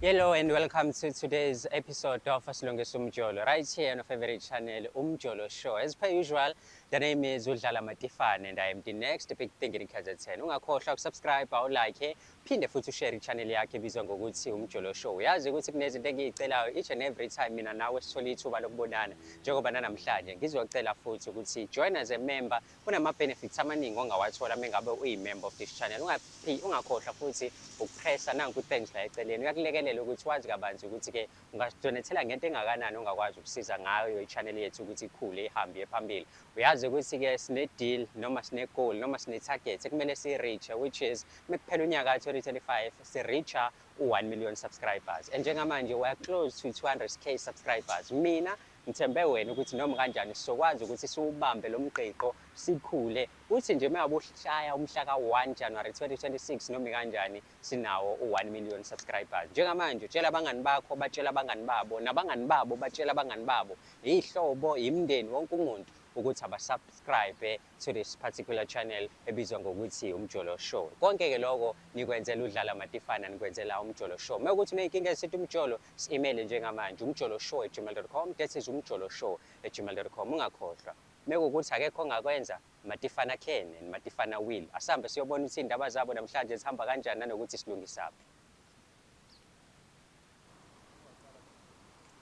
Hello and welcome to today's episode of Asilungisa Umjolo right here on your favorite channel Umjolo Show. As per usual, the name is Udlala Matifane and I am the next big thing in KZN. Ungakhohlwa ukusubscribe, awulike, phinde futhi ushare i-channel yakhe ebizwa ngokuthi Umjolo Show. Uyazi ukuthi kunezinto engiyicelayo each and every time mina nawe sithola ithuba lokubonana njengoba nanamhlanje ngizocela futhi ukuthi join as a member Kunama-benefits amaningi ongawathola mengabe uyi-member of this channel. Ungaphi, ungakhohlwa futhi ukupressa nanku i-thanks la eceleni. Kuyakulekelela ukuthi wazi kabanzi ukuthi-ke ungasidonethela ngento engakanani ongakwazi ukusiza ngayo i-channel yethu ukuthi ikhule ihambe iye phambili. Uyazi ukuthi-ke sine-deal noma sine-goal noma sine-target ekumele siyi-reach-e which is mekuphela unyaka 2025 si-reach-a u-1 million subscribers and njengamanje we are close to 200k subscribers. Mina Ngithembe wena ukuthi noma kanjani sizokwazi ukuthi siwubambe lo mgqigqo sikhule, uthi nje uma ngabe ushaya umhla ka-1 January 2026 noma ikanjani sinawo u-1 million subscribers. Njengamanje utshela abangani bakho batshele abangani babo nabangani babo batshele abangani babo, iy'hlobo, imindeni, wonke umuntu ukuthi abasubscribe to this particular channel ebizwa ngokuthi Umjolo Show. Konke-ke loko nikwenzela uDlala Matifana, nikwenzela Umjolo Show. Uma kuwukuthi uney'nkinga ezithinta umjolo, Si-imeyile njengamanje, umjoloshow at gmail dot com, that is umjoloshow at gmail dot com, ungakhohlwa. Mekuwukuthi akekho ongakwenza, Matifana can and Matifana will. Asihambe siyobona ukuthi iy'ndaba zabo namhlanje zihamba kanjani nanokuthi silungisaphi.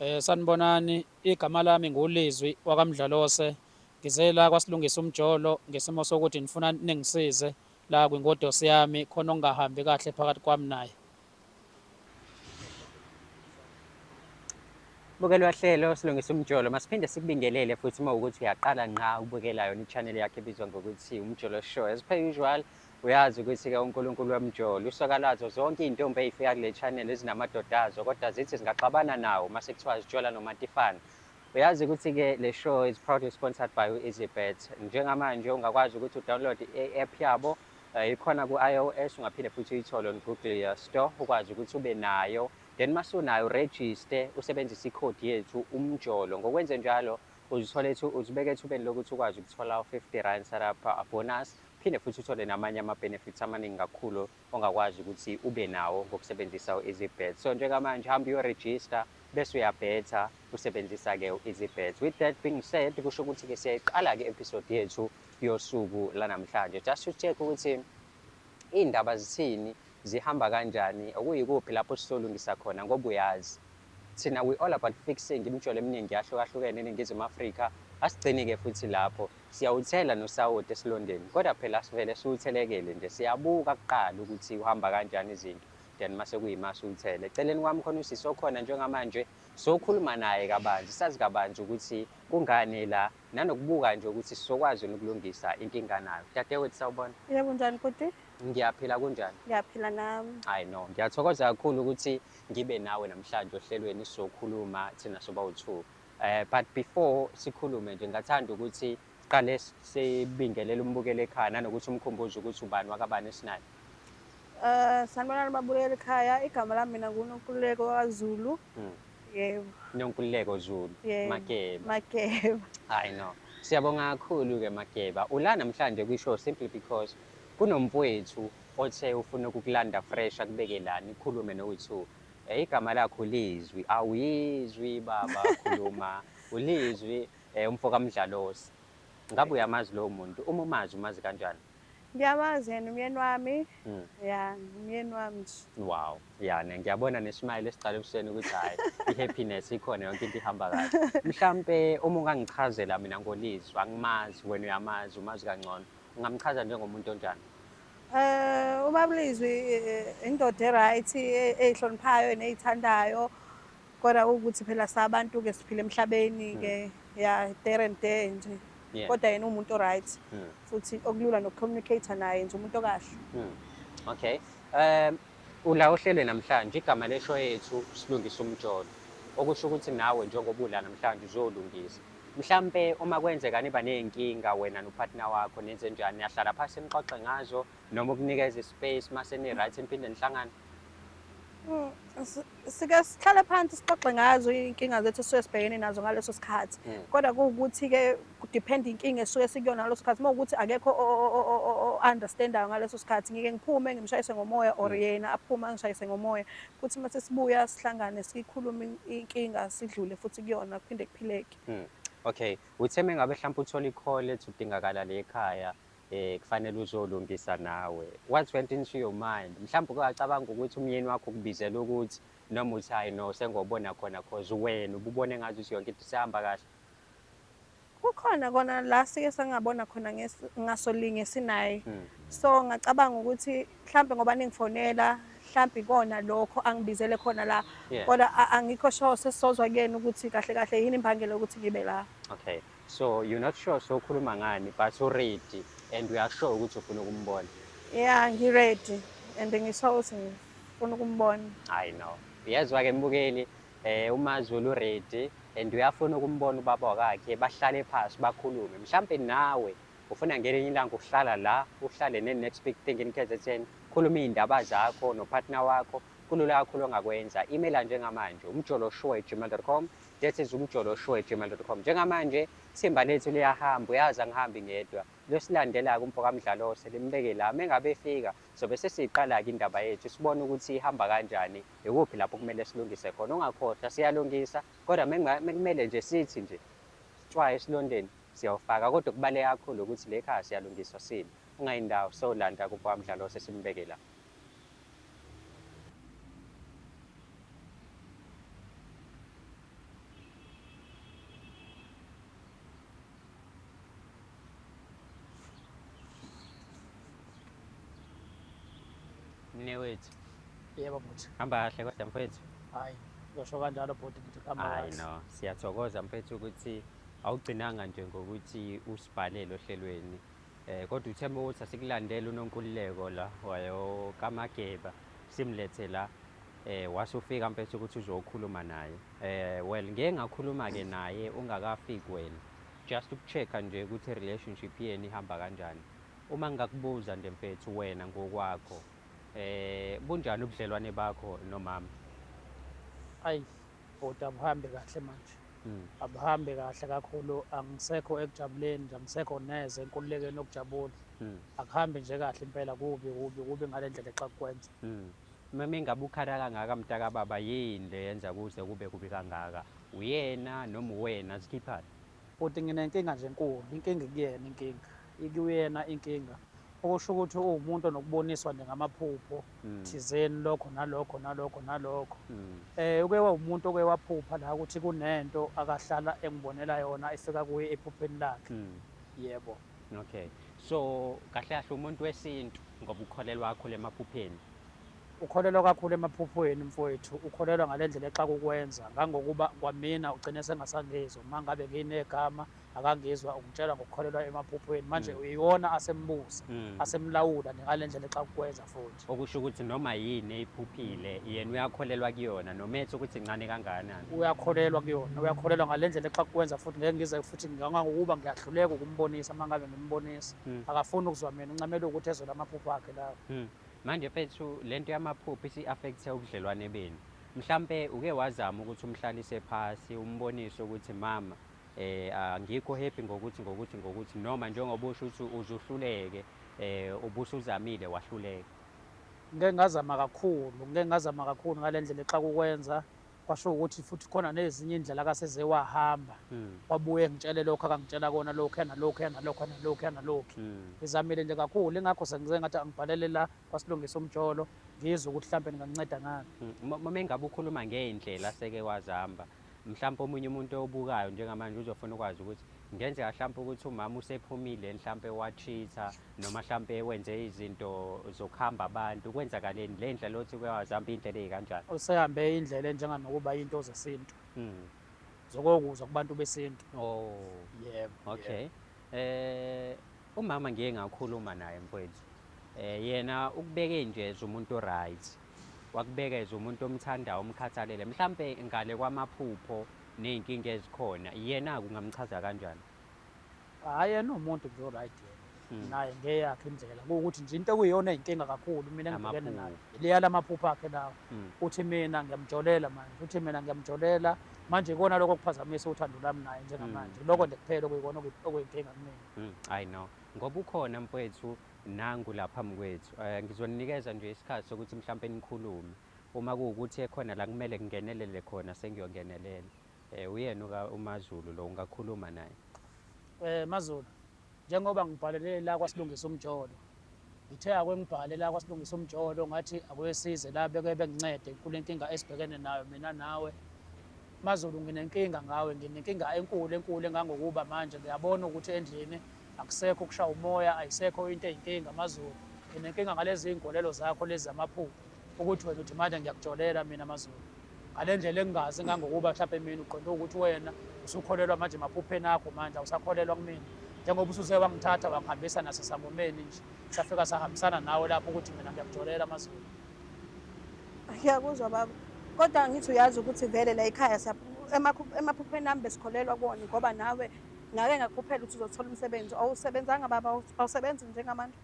Eh, sanibonani, igama lami nguLizwi wakaMdlalose. Ngize la kwasilungisa umjolo ngesimo sokuthi nifuna ningisize La kwingodosi yami khona okungahambi kahle phakathi kwami naye. Bukelwa hlelo silungisa umjolo masiphinde sikubingelele futhi uma ukuthi uyaqala ngqa ukubukela yona i-channel yakhe ebizwa ngokuthi umjolo show as per usual uyazi ukuthi-ke unkulunkulu wemjolo usoka lazo zonke iy'ntombi ey'fika kule channel ezinamadoda azo kodwa zithi zingaxabana nawo uma sekuthiwa zijola nomatifana Uyazi ukuthi ke le show is proudly sponsored by u-EasyBet. Njengamanje ungakwazi ukuthi udownload i-app yabo eh, ikhona ku-iOS ungaphinde futhi uyithole on Google eh, Store ukwazi ukuthi ube nayo. Then masunayo uregister usebenzise ikhodi yethu umjolo. Ngokwenze njalo uzithole ethu uzibeke ethubeni lokuthi ukwazi ukuthola u-50 rand setup bonus phinde futhi uthole namanye ama benefits amaningi kakhulu. ongakwazi ukuthi ube nawo ngokusebenzisa u-EasyBet. So njengamanje hamba uyo-register bese uyabhetha usebenzisa ke u-EasyBet. With that being said kusho ukuthi ke siyayiqala ke episode yethu yosuku lanamhlanje. Just to check ukuthi iy'ndaba zithini zihamba kanjani okuyikuphi lapho sizolungisa khona ngoba uyazi thina we all about fixing imijolo eminingi yahlukahlukene eningizimu afrika asigcini-ke futhi lapho Siyawuthela nosawoti esilondeni kodwa phela sivele siwuthelekele nje siyabuka kuqala ukuthi uhamba kanjani izinto then mase kuyima siwuthele. Eceleni kwami khona usisi okhona njengamanje sokhuluma naye kabanzi sazi kabanzi ukuthi kungani ela nanokubuka nje ukuthi sizokwazi ukulungisa inkinga nayo. Dadewethu sawubona. Yebo unjani bhuti? Ngiyaphila kunjani? Ngiyaphila nami. I know. Ngiyathokoza kakhulu ukuthi ngibe nawe namhlanje ohlelweni sizokhuluma thina sobawu-two. Eh but before sikhulume nje ngathanda ukuthi siqale sibingelele umbukeli ekhaya nanokuthi umkhumbuze ukuthi ubani wakabani esinayo. Eh sanibonani babukeli ekhaya igama lami mina nguNonkululeko kaZulu. Hmm. Yebo. Nonkululeko Zulu. Mageba. Mageba. Hayi no. Siyabonga kakhulu ke Mageba. Ula namhlanje kwishow simply because kunomfowethu othe ufuna ukukulanda fresh akubeke lani khulume no2 Eh igama lakhe uLizwi awuyizwi baba khuluma uLizwi eh umfo kaMdlalosi ngabe uyamazi lowo muntu uma umazi umazi kanjani Ngiyamazi yena umyeni wami mm. ya umyeni wami nje wow yana ngiyabona nesmile esiqala ebusweni ukuthi hayi ihappiness ikhona yonke into ihamba kahle mhlampe uma ungangichazela mina ngolizwi angimazi wena uyamazi umazi kangcono ungamchaza njengomuntu onjani Eh uBabulizwi eh, indoda eright eh, eyihloniphayo eneyithandayo kodwa ukuthi phela sabantu ke siphila emhlabeni ke hmm. ya there and there nje kodwa yena umuntu oright hmm. futhi okulula nokucommunicate naye nje umuntu okahle hmm. okay um ula ohlelwe namhlanje igama lesho yethu silungisa umjolo okusho ukuthi nawe njengoba ula namhlanje uzolungisa Mhlampe uma kwenzeka niba ney'nkinga wena nopartner wakho nenzenjani? Niyahlala phasi nixoxe ngazo noma ukunikeza i-space mase ni-right niphinde nihlangane? Mm, sike sihlale phansi sixoxe ngazo iy'nkinga zethu esuke sibhekene nazo ngaleso sikhathi mm. kodwa kuwukuthi-ke kudiphenda inkinga esuke sikuyona ngaleso sikhathi uma ukuthi akekho o-understandayo ngaleso sikhathi ngike ngiphume ngimshayise ngomoya or mm. yena aphume angishayise ngomoya Futhi uma sesibuya sihlangane sikhulume inkinga sidlule futhi kuyona kuphinde kuphileke. Mm. Okay. Uthe mengabe mhlawumbe uthola i-call ethi udingakala le ekhaya eh kufanele uzolungisa nawe. What went into your mind? Mhlawumbe ukacabanga ukuthi umyeni wakho ukubizela ukuthi noma uthi hayi no sengobona khona cause wena ububone ngathi yonke into isihamba kahle. Kukhona kona la sike sangabona khona ngasolinye sinaye. Hmm. So ngacabanga ukuthi mhlambe ngoba ningifonela mhlambe ikona lokho angibizele khona la. Kodwa angikho sure sesizozwa kuyena ukuthi kahle kahle yini imbangela ukuthi ngibe la. Okay. So you're not sure so ukhuluma ngani but u ready and we are sure ukuthi ufuna ukumbona. Yeah, ngi ready and ngisho ukuthi ngifuna ukumbona. I know. Uyezwa ke mbukeli Eh uMaZulu ready and uyafuna ukumbona ubaba wakakhe bahlale phasi bakhulume. Mhlampe nawe ufuna ngelinye ilanga ukuhlala la uhlale ne next big thing in KZN. Khuluma izindaba zakho no partner wakho. Kulula kakhulu ongakwenza. Email njengamanje umjoloshow@gmail.com. That is umjoloshow@gmail.com. Njengamanje thimba lethu liyahamba uyazi angihambi ngedwa. Losilandela ke umfokaMdlalose limbeke la mengabe efika Sobe sesiyiqala-ke indaba yethu, sibone ukuthi ihamba kanjani, yikuphi lapho okumele silungise khona. Ungakhohlwa, siyalungisa, kodwa mekumele nje sithi nje tshwa esilondeni, siyawufaka. Kodwa okubaluleke kakhulu ukuthi le ekhaya siyalungiswa sime. Ungayi ndawo, sowulanda kubo kaMdlalo osesimubeke la. mnewethu yebo bhuti hamba kahle kodwa mfethu hayi ngisho kanjalo bhuti bhuti hamba hayi kahle no siyathokoza mfethu ukuthi awugcinanga nje ngokuthi usibhalele ohlelweni um kodwa uthe uma ukuthi asikulandele unonkululeko la wayokamageba simlethe la um wase ufika mfethu ukuthi uzokhuluma naye um well ngeke ngakhuluma-ke naye ungakafiki wena Just ukuchecker nje ukuthi relationship yenu ihamba kanjani. Uma ngingakubuza nje mfethu wena ngokwakho eh bunjani ubudlelwane bakho nomama? Ayi bhuti abuhambe kahle manje. Mm. Abuhambe kahle kakhulu angisekho ekujabuleni nje angisekho neze enkululekeni yokujabula. Mm. Akuhambi nje kahle impela kubi kubi kubi ngalendlela exakukwenza. Mm. Mama ingabe ukhala kangaka mtakababa yini le yenza kuze kube kubi kangaka? Uyena noma uwena zikhiphani? Bhuti nginenkinga nje enkulu. Inkinga ikuyena inkinga. Ikuyena inkinga. Okusho ukuthi uwumuntu onokuboniswa nje ngamaphupho thizeni lokho nalokho nalokho nalokho. Uke wawumuntu oke waphupha la ukuthi kunento akahlala engibonela yona efika kuye ephupheni lakhe. Yebo. Okay. So kahle kahle umuntu wesintu ngoba ukholelwa kakhulu emaphupheni. Ukholelwa kakhulu emaphuphweni mfowethu, ukholelwa ngalendlela exaka ukwenza ngangokuba kwamina ugcine sengasangizwa uma ngabe nginegama akangizwa ungitshela ngokukholelwa emaphuphweni manje mm. uyiwona asembusa mm. asemlawula ngalendlela exaka ukwenza mfowethu. okusho ukuthi noma yini eyiphuphile yena uyakholelwa kuyona noma ethi ukuthi incane kangakanani uyakholelwa kuyona uyakholelwa ngale ndlela exakukwenza futhi ngeke ngize futhi ngangangokuba ngiyahluleka ukumbonisa uma ngabe ngimbonisa hmm. akafuni ukuzwa mina uncamela ukuthi ezole amaphupho akhe lawo hmm. manje fethu le nto yamaphupho isi-affekthe ubudlelwane benu mhlampe uke wazama ukuthi umhlalise phasi umbonise ukuthi mama eh angikho happy ngokuthi ngokuthi ngokuthi noma njengoba usho ukuthi uzuhluleke eh ubusuzamile wahluleka ngeke ngazama kakhulu ngeke ngazama kakhulu ngalendlela exakukwenza kwasho ukuthi futhi khona nezinye indlela akaseze wahamba hmm. wabuye ngitshele lokho akangitshela kona lokho yana lokho yana lokho yana lokho yana lokho hmm. ngizamile nje kakhulu ingakho sengize ngathi angibhalele la kwasilungisa umjolo ngizwe ukuthi mhlambe ninganceda ngani hmm. uma engabe ukhuluma ngeindlela seke wazihamba Mhlampe omunye umuntu ewubukayo njengamanje uzofuna ukwazi ukuthi ngenzeka mhlampe ukuthi umama usephumile mhlampe wacheater noma mhlampe wenze izinto zokuhamba abantu kwenzakaleni le ndlela othi kuyawazihamba iy'ndlela ey'kanjani usehambe indlela enjenganokuba into zesintu mm. zokokuzwa kubantu besintu oh. yebo okay yebo. Eh umama ngiye ngakhuluma naye mfowethu eh yena ukubeke nje umuntu right wakubekeza umuntu omthandayo omkhathalele mhlampe ngale kwamaphupho nezinkinga ezikhona yena kungamchaza kanjani hayi yena umuntu nje oright hmm. naye ngeyakhe indlela ukuthi nje into ekuyiyona inkinga kakhulu mina ngibhekene nayo leya lamaphupho akhe lawo hmm. uthi mina ngiyamjolela manje uthi mina ngiyamjolela manje ikona lokho kuphazamisa uthando lami naye njengamanje hmm. lokho nje kuphela okuyikona okuyinkinga kumina i know ngoba ukhona mfowethu Nangu la phambi kwethu. Eh, ngizoninikeza nje isikhathi sokuthi mhlawumpe nikhulume. Uma kuwukuthi ekhona la kumele kungenelele khona sengiyongenelela. Eh, uyena uMaZulu lo ungakhuluma naye. Eh, MaZulu, njengoba ngibhalele la kwasilungisa umjolo. Ngithe ake ngibhale la kwasilungisa umjolo ngathi ake size la beke bengincede kule nkinga esibhekene nayo mina nawe. MaZulu nginenkinga ngawe, nginenkinga enkulu enkulu engangokuba manje ngiyabona ukuthi endlini Akusekho ukushaya umoya, ayisekho into eyinkinga Mazulu. Nginenkinga ngalezi iy'nkolelo zakho lezi zamaphupho ukuthi wena uthi manje ngiyakujolela mina Mazulu. Ngale ndlela engingazi ngangokuba mhlawumbe mina uqonde ukuthi wena usukholelwa manje emaphupheni akho manje awusakholelwa kumina njengoba usuze wangithatha wangihambisa nasesangomeni nje safika sahambisana nawe lapho ukuthi mina ngiyakujolela Mazulu. Ngiyakuzwa baba kodwa ngithi uyazi ukuthi vele la ekhaya emaphupheni ami besikholelwa kuwona ngoba nawe Ngake ngakukhuphela ukuthi uzothola umsebenzi. Awusebenzanga baba, awusebenzi njengamanje.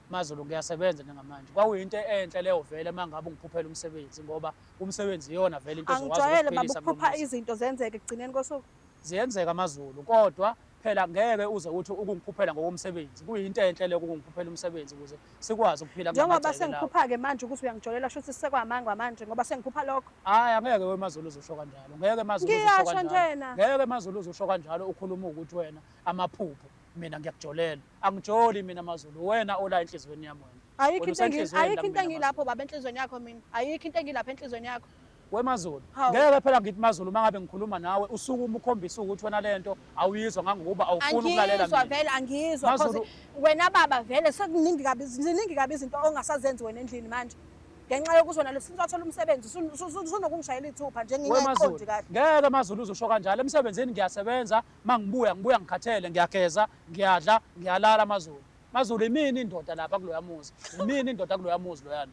MaZulu ngiyasebenza njengamanje. Kwakuyinto enhle leyo vele uma ngabe ungiphuphela umsebenzi ngoba umsebenzi iyona vele into ezokwazi Angijwayele baba ukuphilisa ukuphupha kulo muzi. izinto zenzeke ekugcineni kosuku. Ziyenzeka amaZulu kodwa phela ngeke uze uthi ukungiphuphela ngokomsebenzi. Kuyinto enhle leyo ukungiphuphela umsebenzi ukuze sikwazi ukuphila njengoba sengiphupha-ke manje ukuthi uyangijolela sho ukuthi sekwamangwa manje ngoba sengiphupha lokho hhayi angeke wemazulu uzusho kanjalo ngeke mazulungiyasho njena ngeke mazulu uzusho kanjalo ukhuluma ukuthi wena amaphupho mina ngiyakujolela angijoli mina mazulu wena ola enhliziyweni yami wena ayikho into engilapho baba enhliziyweni yakho mina ayikho into engilapho enhliziyweni yakho We Mazulu, Hawu. ngeke phela ngithi Mazulu uma ngabe ngikhuluma nawe usukuma ukhombisa ukuthi wena lento awuyizwa ngangokuba awufuni ukulalela angizwa mina. vele angizwa Mazulu- cause wena baba vele sekuningi kabi ziningi kabi izinto ongasazenzi wena endlini manje ngenxa yokuthi wena lesinto wathola umsebenzi sun- sun- sun- sunokungishayela ithupha nje We Mazulu, ngingaqondi kahle ngeke Mazulu uzosho kanjalo. Emsebenzini ngiyasebenza, uma ngibuya ngibuya ngikhathele, ngiyageza, ngiyadla, ngiyalala Mazulu. Mazulu imini indoda lapha kuloya muzi. Imini indoda kuloya muzi loyana.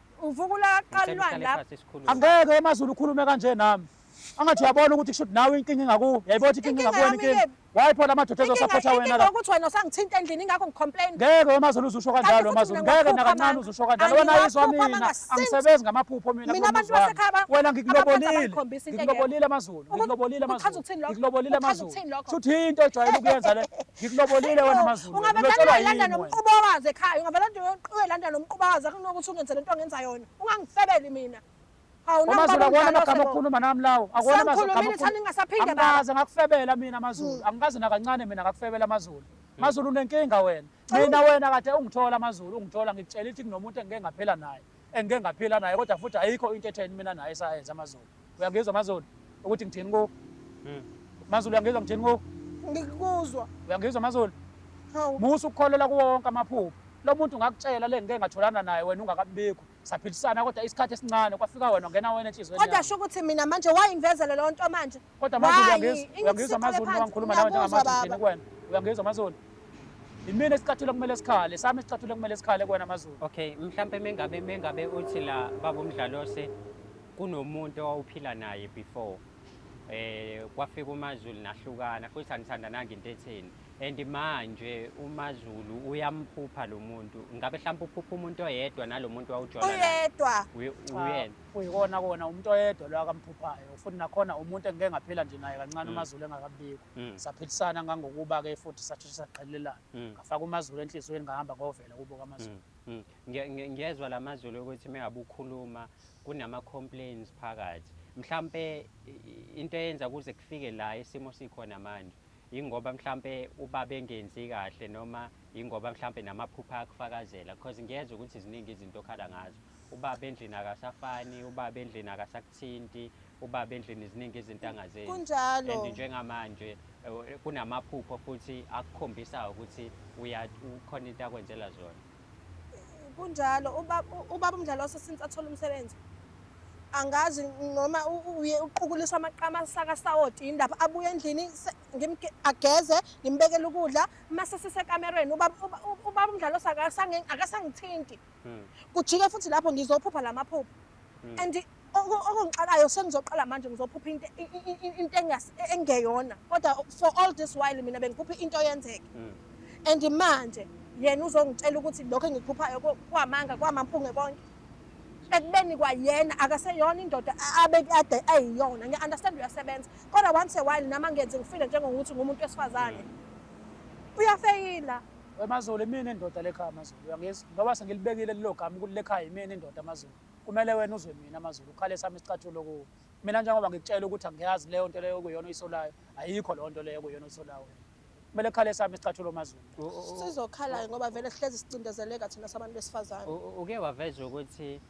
Uvuka ulaqala ilwane lapho. Angeke emazulu ukhulume kanje nami. Angathi uyabona ukuthi kushuthi nawe inkinga ingakuwe. Yayibona ukuthi inkinga ingakuwena inkinga. Wayipho lamadoda ezosapotha wena la. Ukuthi wena usangithinta endlini ingakho ngicomplain. Ngeke emazulu uzusho kanjalo emazulu. Ngeke nakancane uzusho kanjalo. Wena ayizwa mina. Angisebenzi ngamaphupho mina. Mina abantu basekhaya. Wena ngikulobolile. Ngikulobolile amazulu. Ngikulobolile amazulu. Ngikulobolile amazulu. Shuthi into ejwayele ukuyenza le. ngikulobolile wena mazulu ungabe landa nomquba wazi ekhaya ungabe landa uyoqhubeka landa nomquba wazi akunokuthi ungenze lento ongenza yona ungangifebeli mina amazulu akuwona amagama okukhuluma nami lawo akuwona amazuluangaze ngakufebela mina amazulu hmm. angikaze nakancane mina ngakufebela amazulu hmm. mazulu unenkinga wena mina wena kade ungithola amazulu ungithola ngikutshela ithi kunomuntu engike ngaphela naye engike ngaphila naye kodwa futhi ayikho into etheni mina naye sayenza amazulu uyangizwa amazulu ukuthi ngithini ku hmm. mazulu uyangizwa ngithini ku ngikuzwa uyangizwa amazulu musa ukukholelwa kuwo wonke amaphupho lo muntu ngakutshela le ngike ngatholana naye wena ungakabibikho saphilisana kodwa isikhathi esincane kwafika wena ngena wena enhliziyweni kodwa sho ukuthi mina manje wayingivezele leyo nto manje Kodwa manje uyangizwa amazulu noma ngikhuluma nawe njengamazulu kuwena. Uyangizwa amazulu. Imina isicathulo kumele sikhale, sami isicathulo kumele sikhale kuwena amazulu. Okay, mhlampe mengabe mengabe uthi la baba umdlalose kunomuntu owawuphila naye before. Eh kwafika uMazulu nahlukana futhi anithandananga into etheni. And manje uMazulu uyamphupha lo muntu. Ngabe mhlawumbe uphupha umuntu oyedwa nalomuntu wawujola naye. Uyedwa. Uyena. kuyikona kona umuntu oyedwa lo akamphuphayo futhi nakhona umuntu engike ngaphila nje naye kancane umazulu engakabikho saphilisana ngangokuba-ke futhi sasheshe saqhelelana ngafaka umazulu enhliziyweni ngahamba ngovela kubo kamazulu Nge- nge- ngiyezwa la mazulu ukuthi mengabe ukhuluma kunama-complains phakathi mhlampe i- i- into eyenza kuze kufike la isimo sikhona manje Yingoba mhlampe ubaba engenzi kahle noma yingoba mhlampe namaphupha akufakazela because ngiyezwa ukuthi ziningi izinto okhala ngazo. Ubaba endlini akasafani, ubaba endlini akasakuthinti, ubaba endlini ziningi izinto angazenzi. Kunjalo. And njengamanje eh, kunamaphupho futhi akukhombisayo ukuthi uya ukhona into akwenzela zona. Kunjalo ubaba ubaba uMdlalose since athola umsebenzi angazi noma uye uqukuliswa amaqama asaka sawoti indaba abuye endlini ageze ngimbekele ukudla mase sisekamerweni ubaba ubaba uMdlalose akasangithinti hmm. kujike futhi lapho ngizophupha lamaphupho hmm. and okungixakayo sengizoqala manje ngizophupha into into engeyona kodwa for all this while mina bengiphupha into yenzeke mm. and manje yena uzongitshela ukuthi lokho engikuphuphayo kwamanga kwamampunge konke ekubeni kwayena akaseyona indoda abekade ayiyona ngiya-understand uyasebenza kodwa once a while nami angenzi ngifile njengokuthi ngumuntu wesifazane mm. uyafeyila wemazulu imini indoda lekhaya amazulu uyangizwa ngoba sengilibekile lelo gama ukuthi lekhaya imini indoda amazulu Kumele wena uzwe mina amazulu ukhale sami isicathulo kuwe. Mina njengoba ngikutshela ukuthi angiyazi leyo nto leyo okuyona oyisolayo, ayikho leyo nto leyo okuyona oyisolayo wena. Kumele khale sami isicathulo mazulu. Sizokhala ngoba vele sihlezi sicindezeleka thina sabantu besifazane. Uke waveza ukuthi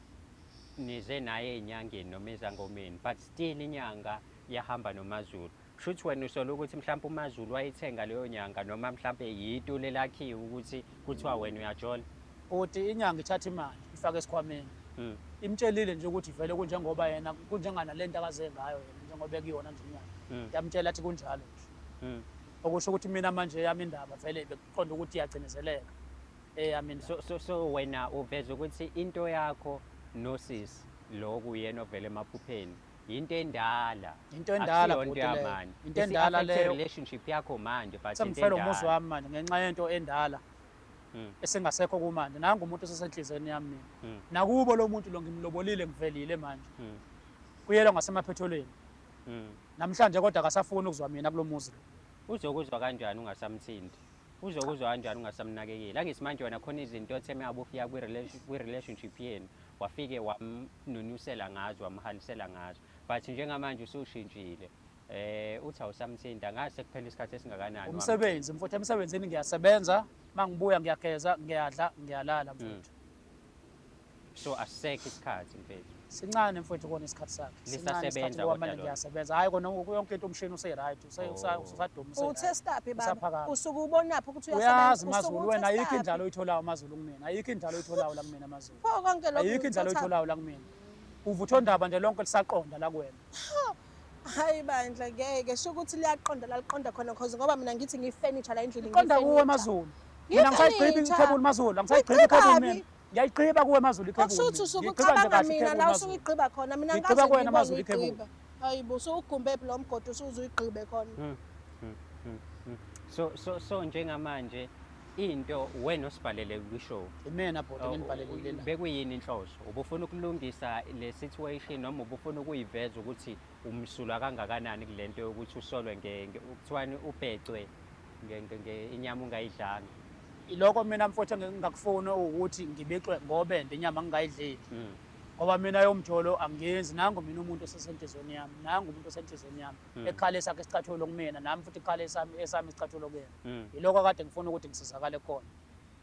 nize naye enyangeni noma ezangomeni but still inyanga yahamba nomazulu. Shuthi wena usola ukuthi mhlawumbe uMaZulu wayithenga leyo nyanga noma mhlawumbe yitu lelakhiwe ukuthi kuthiwa wena uyajola. Uthi inyanga ithatha imali ifake esikhwameni. Mm. Imtshelile nje ukuthi vele kunjengoba yena kunjengana lento akaze ngayo yena njengoba ekuyona nje inyanga. Mm. Yamtshela athi kunjalo nje. Mm. Okusho ukuthi mina manje yami indaba vele bekuqonda ukuthi iyagcinezeleka. Eyami indaba. So, so, so wena uveza ukuthi into yakho nosisi lo kuyena ovele emaphupheni. yinto endala Into endala Akusiyona into bhuti leyo. yamanje. Into endala Isi-affect leyo. relationship yakho manje but into Sengifela umuzi endala. wami manje ngenxa yento endala Mm. esengasekho kumanje. Nangu umuntu osesenhlizweni yami mina. Mm. Nakubo lo muntu lo ngimlobolile ngivelile manje. Mm. Kuyelwa ngasemaphetholweni. Mm. Namhlanje kodwa akasafuni ukuzwa mina kulo muzi lo. uzokuzwa kanjani ungasamthindi Uzokuzwa kanjani ungasamnakekeli? Angithi manje wena khona izinto othe uma ufika kwi-relationship yenu wafike wamnunyusela ngazo wamhalisela ngazo but njengamanje usushintshile eh uthi awusamthinta ngathi sekuphela isikhathi esingakanani umsebenzi mfuthu emsebenzini ngiyasebenza mangibuya ngiyageza ngiyadla ngiyalala mfuthu mm. so asisekho isikhathi mfethu sincane mfethu kona isikhathi sakhe lisasebenza kodwa ngiyasebenza hayi kona ngoku yonke into umshini use right use oh. usaduma use utesta phi baba usuke ubona phi ukuthi uyasebenza mazulu wena ayikho indlalo oyitholayo mazulu kumina ayikho indlalo oyitholayo la kumina mazulu pho konke lokho ayikho indlalo oyitholayo la kumina uvutho ndaba nje lonke lisaqonda la kuwena Hayi bandla ngeke sho ukuthi liyaqonda laliqonda khona cause ngoba mina ngithi ngifurniture la endlini Qonda kuwe mazulu. Mina ngisayigqiba ikhebuli mazulu, angisayigqibi ikhebuli mina. Ngiyayigqiba kuwe mazulu ikhebuli. Okusho ukuthi usuke ucabanga mina la usuke uyigqiba khona mina ngikaze ngibone mazulu ikhebuli. Hayibo usuwugumbe phi lo mgodi usuze uyigqibe khona. Hmm, hmm, hmm, so so so njengamanje into wena osibhalele kwishow imena bhuti oh, nginibhalelile la bekuyini inhloso ubufuna ukulungisa le situation noma ubufuna ukuyiveza ukuthi umsulwa kangakanani kulento yokuthi usolwe ngenge ukuthiwani ubhecwe ngenge inyama ungayidlanga iloko mina mfowethu engingakufuni ukuthi ngibixwe ngobe ndenyama ngingayidleli hmm. ngoba mina yomjolo angenzi nangu mina umuntu osesenhlizweni yami nangu umuntu osenhlizweni yami mm. ekhale sakhe isicathulo kumina nami futhi ikhale esami esami isicathulo kuyena mm. yiloko kade ngifuna ukuthi ngisizakale khona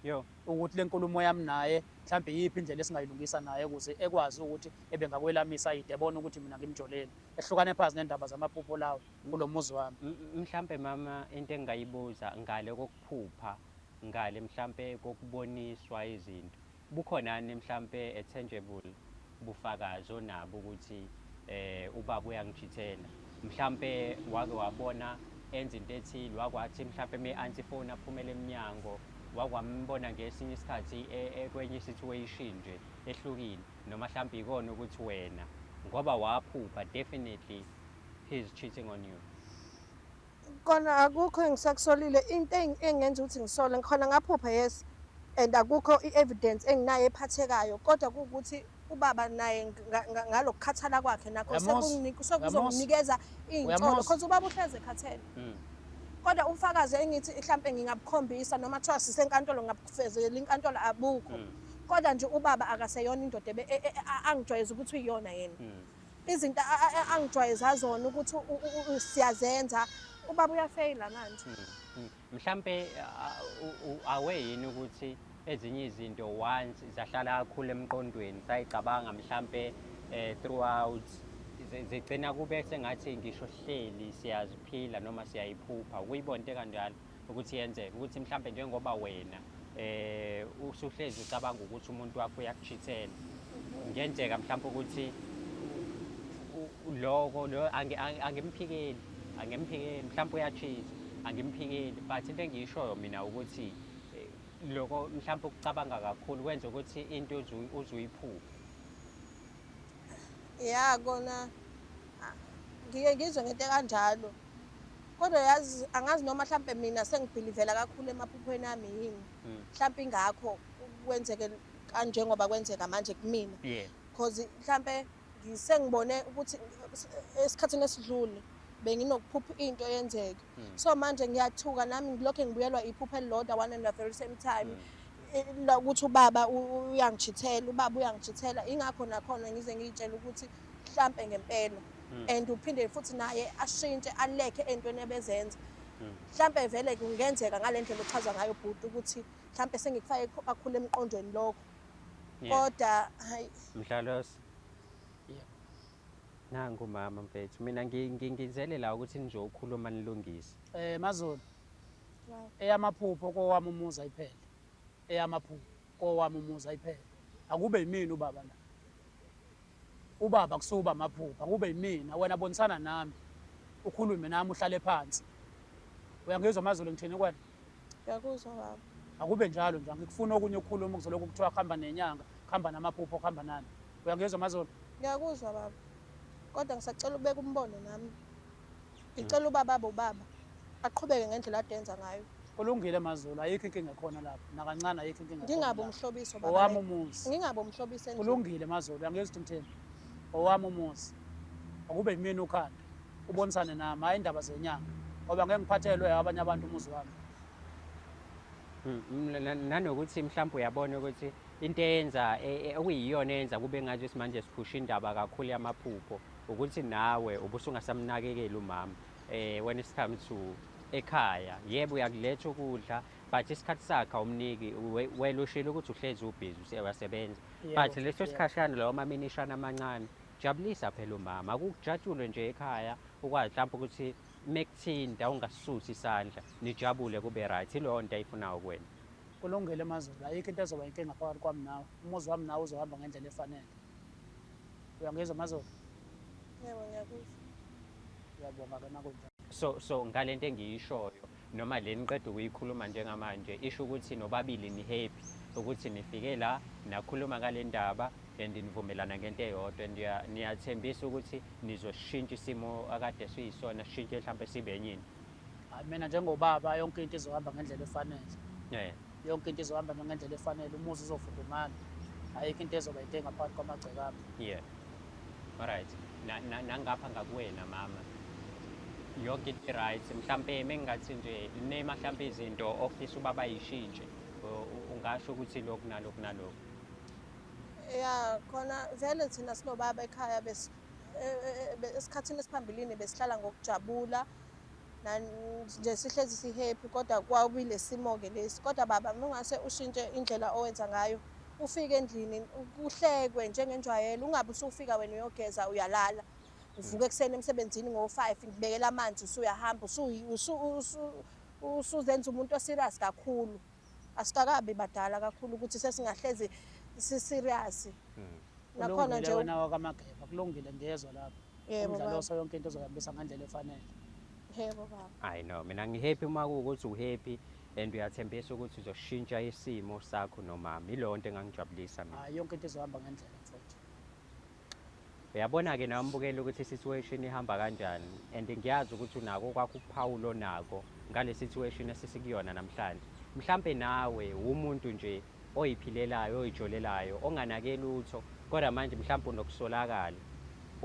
yo ukuthi lenkulumo yami naye mhlambe yipi indlela esingayilungisa naye ukuze ekwazi ukuthi ebe ngakwelamisa idebona ukuthi mina ngimjoleni ehlukane phansi nendaba zamaphupho lawo kulomuzi wami mhlambe mama into engayibuza ngale kokuphupha ngale mhlambe kokuboniswa izinto Bukhonani mhlampe a tangible bufakazi onabo ukuthi eh ubaba uyangijithela mhlampe wake wabona enza into ethile wakwathi mhlampe me anti phone aphumele emnyango wakwambona ngesinye isikhathi e, e, kwenye situation nje ehlukile noma mhlampe ikona ukuthi wena ngoba waphupha definitely he is cheating on you Kona akukho engisakusolile into engenza ukuthi ngisole ngikhona ngaphupha yes and akukho i-evidence enginayo ephathekayo kodwa kuwukuthi ubaba naye ngalokukhathala kwakhe nakho sekuzonginikeza iy'nsolo because ubaba uhleze ekhathele hmm. kodwa ubufakazi engithi mhlampe ngingabukhombisa noma kuthiwa sisenkantolo ngingabufezela inkantolo abukho hmm. kodwa nje ubaba akaseyona indoda e, e, e, angijwayeza ukuthi uyiyona yena hmm. Izinto angijwayeza zona ukuthi siyazenza ubaba uyafeyila manje. Hmm, hmm. Mhlampe awe yini ukuthi ezinye izinto once zahlala kakhulu emqondweni sayicabanga mhlampe eh, throughout zigcina kube sengathi ngisho hleli siyaziphila noma siyayiphupha ukuyibona into ekanjalo ukuthi yenzeke ukuthi mhlawumbe njengoba wena eh usuhlezi ucabanga ukuthi umuntu wakho uyakuchithela ngenzeka mhlawumbe ukuthi loko lo angimphikeli angimphikeli mhlawumbe uyachitha angimphikeli but into engiyishoyo mina ukuthi eh, loko mhlawumbe ukucabanga kakhulu kwenza ukuthi into uzuyiphuphe ya kona Ngike ngizwe ngento ekanjalo kodwa yazi angazi noma mhlampe mina sengibhilivela kakhulu emaphuphweni ami yini hmm. mhlampe ingakho kwenzeke kanjengoba kwenzeka manje kumina because mhlampe sengibone ukuthi esikhathini esidlule benginokuphupha into yenzeke hmm. so manje ngiyathuka nami ngilokhu ngibuyelwa iphupha elilodwa one and the very same time hmm. ukuthi ubaba uyangijithela ubaba uyangijithela ingakho nakhona ngize ngiyitshela ukuthi mhlampe ngempela hmm. and uphinde futhi naye ashintshe alekhe entweni ebezenza hmm. mhlampe vele kungenzeka ngale ndlela ochaza ngayo bhuti ukuthi mhlampe sengikufake akhule emqondweni lokho kodwa hayi mdlalosi nangu mama mfethu mina ngingizelela ukuthi nizokhuluma nilungise eh mazulu eyamaphupho kowami umuzi ayiphele eyamaphupho kowami umuzi ayiphele akube yimina ubaba la ubaba kusuba amaphupha kube yimina wena bonisana nami ukhulume nami uhlale phansi uyangizwa amazulu ngithini kwena ngiyakuzwa baba akube njalo nje angikufuni okunye ukukhuluma kuzolokhu kuthiwa kuhamba nenyanga kuhamba namaphupho kuhamba nani uyangizwa amazulu ngiyakuzwa baba kodwa ngisacela ubeka umbono nami Ngicela ubaba abe ubaba aqhubeke ngendlela ade enza ngayo. Kulungile Mazulu, ayikho inkinga khona lapho nakancane ayikho inkinga. Ngingabe umhlobiso baba. Owami umuzi. Ngingabe umhlobiso endlini. Kulungile Mazulu, angizwa ukuthi ngithini. Owami umuzi. Akube yimina ukhanda. Ubonisane nami, hayi indaba zenyanga. Ngoba ngeke ngiphathelwe abanye abantu umuzi wami. Hmm, nanokuthi mhlawumbe uyabona ukuthi into eyenza e, e, okuyiyona eyenza kube ngathi simanje siphusha indaba kakhulu yamaphupho ukuthi nawe ubusungasamnakekeli umama eh when it's come to ekhaya yebo uyakuletha ukudla but isikhathi sakhe awumniki we- wena ushilo ukuthi uhlezi ubhizi use- uyasebenza Yebo, but leso yebo. sikhashana lawo maminishana amancane jabulisa phela umama akujatshulwe nje ekhaya ukwazi mhlawumbe ukuthi mekuthinta ungasusi isandla nijabule kube right ileyo nto ayifunayo kuwena kulungile mazulu ayikho into ezoba inkinga phakathi kwami nawe umuzi wami nawe uzohamba ngendlela efanele Uyangizwa Mazolo? Yebo ngiyakuzwa. Uyabonga ke makunjalo. So so ngalento engiyishoyo noma le niqeda ukuyikhuluma njengamanje isho ukuthi nobabili ni happy ukuthi nifike la nakhuluma ngale ndaba and nivumelana ngento eyodwa and niya- niyathembisa ukuthi nizosishintsha isimo akade siyisona sishintshe mhlawumbe sibe enyini Hayi mina njengobaba yonke into izohamba ngendlela efanele. eh yonke into izohamba nje ngendlela efanele umuzi uzofudumala ayikho into ezoba yinto engaphakathi kwamagceke ami yeah alright Na- na- nangapha ngakuwena mama yonke into i-right mhlampe mengingathi nje nema mhlampe izinto ofisa uba bayishintshe u- u- ungasho ukuthi lokhu nalokhu nalokhu ya khona vele thina sinobaba ekhaya bes- e- e- e- be- esikhathini esiphambilini besihlala ngokujabula nje sihlezi sihappy kodwa kwawubile simo-ke lesi kodwa baba mungase ushintshe indlela owenza ngayo ufike endlini kuhlekwe njengenjwayelo ungabe usufika wena uyogeza uyalala uvuka ekuseni emsebenzini ngo-five ngibekela amanzi usuyahamba usuzenza umuntu oserious kakhulu asikakabi badala kakhulu ukuthi sesingahlezi siserious hmm. nakhona nje wena wakamageba kulungile ngiyezwa lapho umdlalo oso yonke into ozoyambisa ngendlela efanele yebo baba hayi no mina ngihappy uma kuwukuthi uhappy and uyathembisa ukuthi uzoshintsha isimo sakho nomama yileyo nto engangijabulisa mina hayi yonke into izohamba ngendlela mfowethu Uyabona-ke nawe mbukela ukuthi i-situation ihamba kanjani and ngiyazi ukuthi unako okwakho ukuphawula onako ngale situation esisikuyona namhlanje. Mhlampe nawe wumuntu nje oyiphilelayo, oyijolelayo, onganake lutho kodwa manje mhlampe unokusolakala.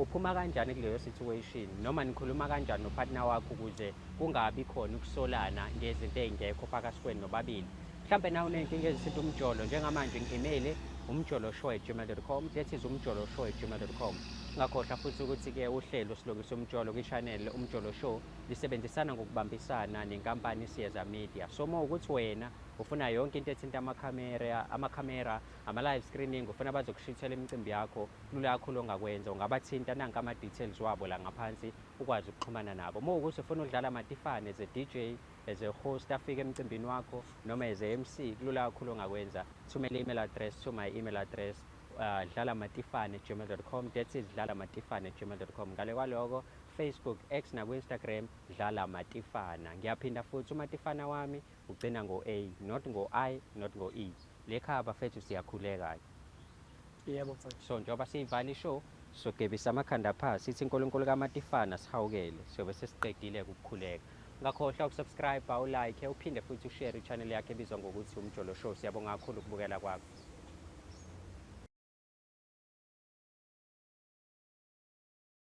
Uphuma kanjani kuleyo situation noma nikhuluma kanjani nopartner wakho ukuze kungabi khona ukusolana ngezinto ezingekho phakathi kwenu nobabili Mhlampe nawe unenkinga ezithinta umjolo njengamanje ngi-email umjoloshow@gmail.com that is umjoloshow@gmail.com ngakhohlwa futhi ukuthi ke uhlelo silungisa umjolo kwi-channel umjolo show lisebenzisana ngokubambisana nenkampani Siyeza Media so uma ukuthi wena ufuna yonke into ethinta amakhamera amakhamera ama-live screening ufuna bazokushithela imicimbi yakho lula kakhulu ongakwenza ungabathinta nanka ama-details wabo la ngaphansi ukwazi ukuxhumana nabo uma ukuthi ufuna ukudlala matifane ze-dj As a host afike emcimbini wakho noma as a MC kulula kakhulu ongakwenza thumela email address to my email address uh, dlala matifane gmail.com that's it dlala matifane gmail.com ngale kwaloko Facebook X naku Instagram dlala matifana ngiyaphinda futhi umatifana wami ugcina ngo A not ngo I not ngo E lekhaya bafethu siyakhuleka Yebo mfowethu. So njengoba siyivala ishow sogebisa amakhanda phansi sithi uNkulunkulu kaMatifana sihawukele sobe sesiqedile ukukhuleka. Ungakhohlwa ukusubscribe, ulike, uphinde futhi ushare ichannel yakhe ebizwa ngokuthi Umjolo Show. Siyabonga kakhulu ukubukela kwakho.